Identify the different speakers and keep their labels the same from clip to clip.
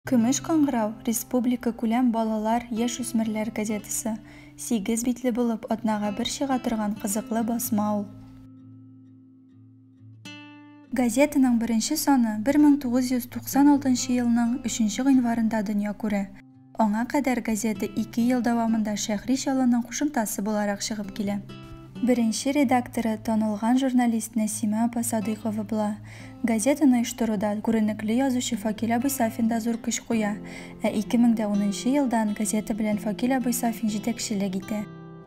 Speaker 1: Көмеш кыңгырау, республикакүләм балалар, яшүсмерләр газетасы. Сигез битле булып, атнага бер чыга торган кызыклы басма ул. Газетаның беренче саны 1996 нчы елның өченче гыйнварында дөнья күрә. Аңа кадәр газета ике ел дәвамында Шәһри Чаллының кушымтасы буларак чыгып килә. Беренче редакторы танылган журналист Нәсимә апа Садыйкова була. Газетаны оештыруда күренекле язучы Факил абый Сафин да зур көч куя. Ә 2010 нчы елдан газета белән Факил абый Сафин җитәкчелек итә.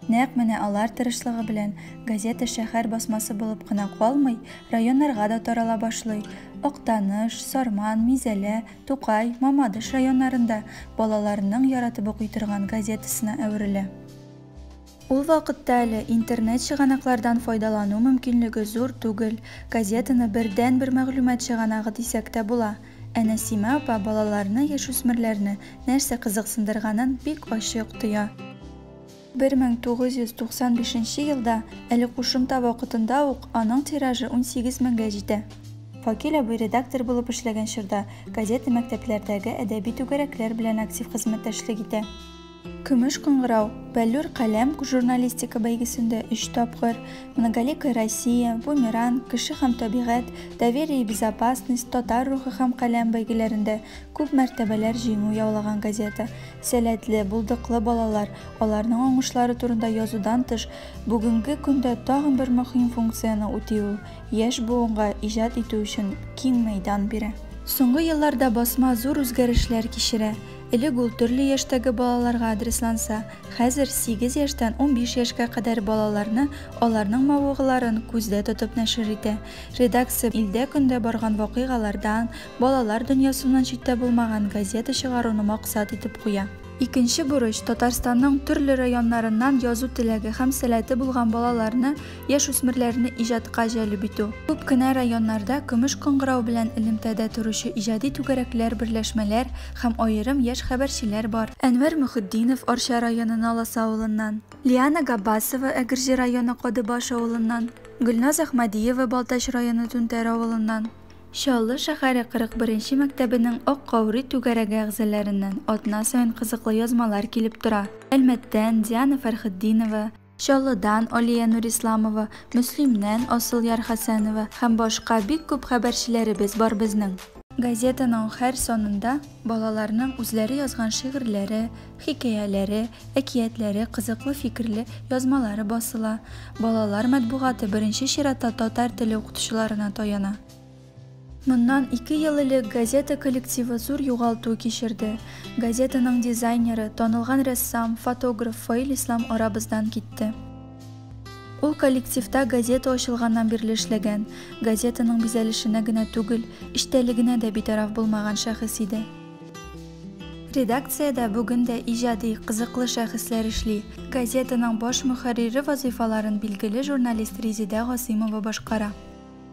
Speaker 1: Нәкъ менә алар тырышлыгы белән газета шәһәр басмасы булып кына калмый, районнарга да тарала башлый. Актаныш, Сарман, Мизәлә, Тукай, Мамадыш районнарында балаларның яратып укый торган газетасына әверелә. Ул вакытта әле интернет чыганаклардан файдалану мөмкинлеге зур түгел, газетаны бердәнбер мәгълүмат чыганагы дисәк тә була. Ә Нәсимә апа балаларны, яшүсмерләрне нәрсә кызыксындырганын бик ачык тоя. 1995 нче елда, әле кушымта вакытында ук, аның тиражы унсигез меңгә җитә. Факил абый редактор булып эшләгән чорда, газета мәктәпләрдәге әдәби түгәрәкләр белән актив хезмәттәшлек итә. Көмеш кыңгырау, Бәллүр каләм журналистика бәйгесендә өч тапкыр, Многоликая Россия, Бумеранг, Кеше һәм табигать, Доверие и безопасность, Татар рухы һәм каләм бәйгеләрендә күп мәртәбәләр җиңү яулаган газета. Сәләтле, булдыклы балалар, аларның уңышлары турында язудан тыш, бүгенге көндә тагын бер мөһим функцияне үти ул, яшь буынга иҗат итү өчен киң мәйдан бирә. Соңгы елларда басма зур үзгәрешләр кичерә. Элек ул төрле яшьтәге балаларга адресланса, хәзер сигез яшьтән унбиш яшькә кадәр балаларны, аларның мавыгуларын күздә тотып нәшер итә. Редакция илдә көндә барган вакыйгалардан, балалар дөньясыннан читтә булмаган газета чыгаруны максат итеп куя. Икенче бурыч, Татарстанның төрле районнарыннан язу теләге һәм сәләте булган балаларны яшүсмерләрне иҗатка җәлеп итү. Күп кенә районнарда көмеш кыңгырау белән элемтәдә торучы иҗади түгәрәкләр, берләшмәләр һәм аерым яшь хәбәрчеләр бар. Әнвәр Мөхетдинов, Арча районы Наласа авылыннан, Лиана Габбасова, Әгерҗе районы Кадыбаш авылыннан, Гөлназ Әхмәдиева, Балтач районы Түнтәр авылыннан, Чаллы шәһәре 41 нче мәктәбенең Ак каурый түгәрәге әгъзаләреннән атна саен кызыклы язмалар килеп тора, Әлмәттән, Диана Фәрхетдинова, Чаллыдан Алия Нурисламова, Мөслимнән Асылъяр Хәсәнова һәм башка бик күп хәбәрчеләребез бар безнең. Газетаның һәр санында балаларның үзләре язган шигырьләре, хикәяләре, әкиятләре, кызыклы фикерле язмалары басыла. Балалар матбугаты беренче чиратта татар теле укытучыларына таяна. Моннан ике ел элек газета коллективы зур югалту кичерде. Газетаның дизайнеры, танылган рәссам, фотограф Фаил Ислам арабыздан китте. Ул коллективта газета ачылганнан бирле эшләгән, газетаның бизәлешенә генә түгел, эчтәлегенә дә битараф булмаган шәхес иде. Редакциядә бүген дә иҗади, кызыклы шәхесләр эшли. Газетаның баш мөхәррире вазыйфаларын билгеле журналист Резидә Гасыймова башкара.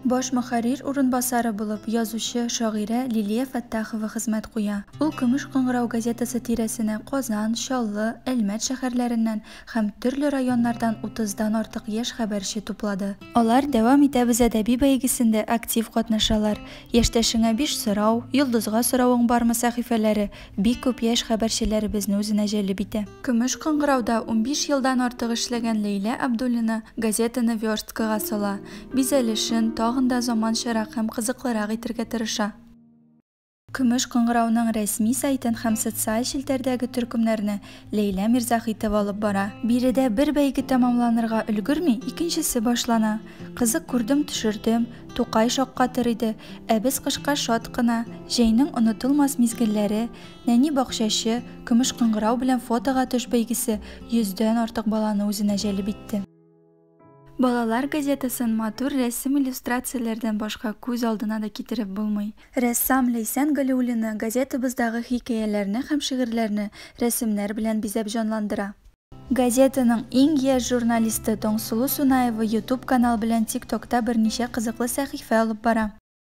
Speaker 1: Баш мөхәррир урынбасары булып язучы, шагыйрә Лилия Фәттахова хезмәт куя. Ул Көмеш кыңгырау газетасы тирәсенә Казан, Чаллы, Әлмәт шәһәрләреннән һәм төрле районнардан утыздан артык яшь хәбәрче туплады. Алар Дәвам итәбез әдәби бәйгесендә актив катнашалар. Яшьтәшеңә биш сорау, Йолдызга соравың бармы сәхифәләре Бик күп яшь хәбәрчеләребезне үзенә җәлеп итә. Көмеш кыңгырауда унбиш елдан артык эшләгән Ләйлә Абдуллина газетаны версткага сала, бизәлешен тагын да заманчарак һәм кызыклырак итергә тырыша. Көмеш кыңгырауның рәсми сайтын һәм социаль челтәрдәге төркемнәрне Ләйлә Мирзахитова алып бара. Биредә бер бәйге тәмамланырга өлгерми, икенчесе башлана. Кызык күрдем, төшердем. Тукай шаккатыр иде. Ә без кышка шат кына. Җәйнең онытылмас мизгелләре, нәни бакчачы, көмеш кыңгырау белән фотога төш бәйгесе йөздән артык баланы үзенә җәлеп итте. Балалар газетасын матур рәсем-иллюстрацияләрдән башка күз алдына да китереп булмый. Рәссам Ләйсән Галиуллина газетабыздагы хикәяләрне һәм шигырьләрне рәсемнәр белән бизәп җанландыра. Газетаның иң яшь журналисты Таңсылу Сунаева Ютуб канал белән Тик-Токта берничә кызыклы сәхифә алып бара.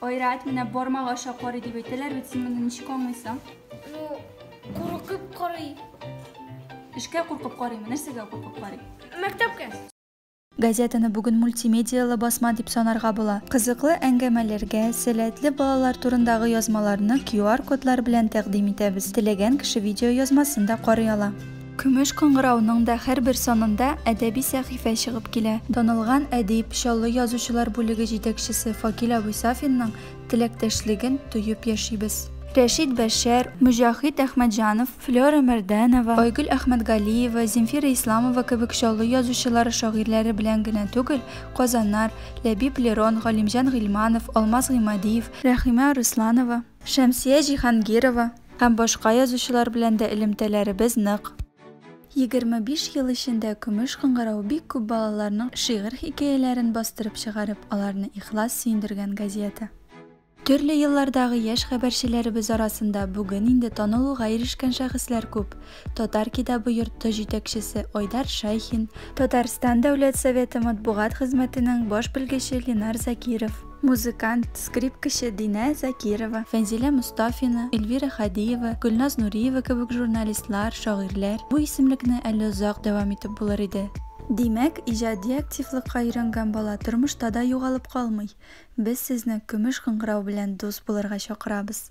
Speaker 1: Айрат, менә бармак аша карый дип әйтәләр бит, син моны ничек аңлыйсың? Ну, куркып карый. Эшкә куркып карыймы, нәрсәгә куркып карый? Мәктәпкә. Газетаны бүген мультимедияле басма дип санарга була. Кызыклы әңгәмәләргә, сәләтле балалар турындагы язмаларны QR-кодлар белән тәкъдим итәбез. Теләгән кеше видеоязмасын да карый ала. Көмеш кыңгырауның да һәрбер санында әдәби сәхифә чыгып килә. Танылган әдип, Чаллы язучылар бүлеге җитәкчесе Факил абый Сафинның теләктәшлеген тоеп яшибез. Рәшит Бәшәр, Мөҗәхит Әхмәтҗанов, Флера Мәрдәнова, Айгөл Әхмәтгалиева, Земфира Исламова кебек Чаллы язучылары шагыйрьләре белән генә түгел, Казаннар, Ләбиб Лерон, Галимҗан Гыйльманов, Алмаз Гыймадиев, Рәхимә Арысланова, Шәмсия Җиһангирова һәм башка язучылар белән дә элемтәләребез нык. Егерме биш ел эчендә Көмеш кыңгырау бик күп балаларның шигырь-хикәяләрен бастырып чыгарып, аларны ихлас сөендергән газета. Төрле еллардагы яшь хәбәрчеләребез арасында бүген инде танылуга ирешкән шәхесләр күп. Татар китабы йорты җитәкчесе Айдар Шайхин. Татарстан Дәүләт Советы матбугат хезмәтенең баш белгече Ленар Закиров. Музыкант, скрипкачы Динә Закирова, Фәнзилә Мостафина, Эльвира Хадиева, Гөлназ Нуриева кебек журналистлар, шагыйрьләр, бу исемлекне әле озак дәвам итеп булыр иде. Димәк, иҗади активлыкка өйрәнгән бала тормышта да югалып калмый. Без сезне Көмеш кыңгырау белән дус булырга чакырабыз.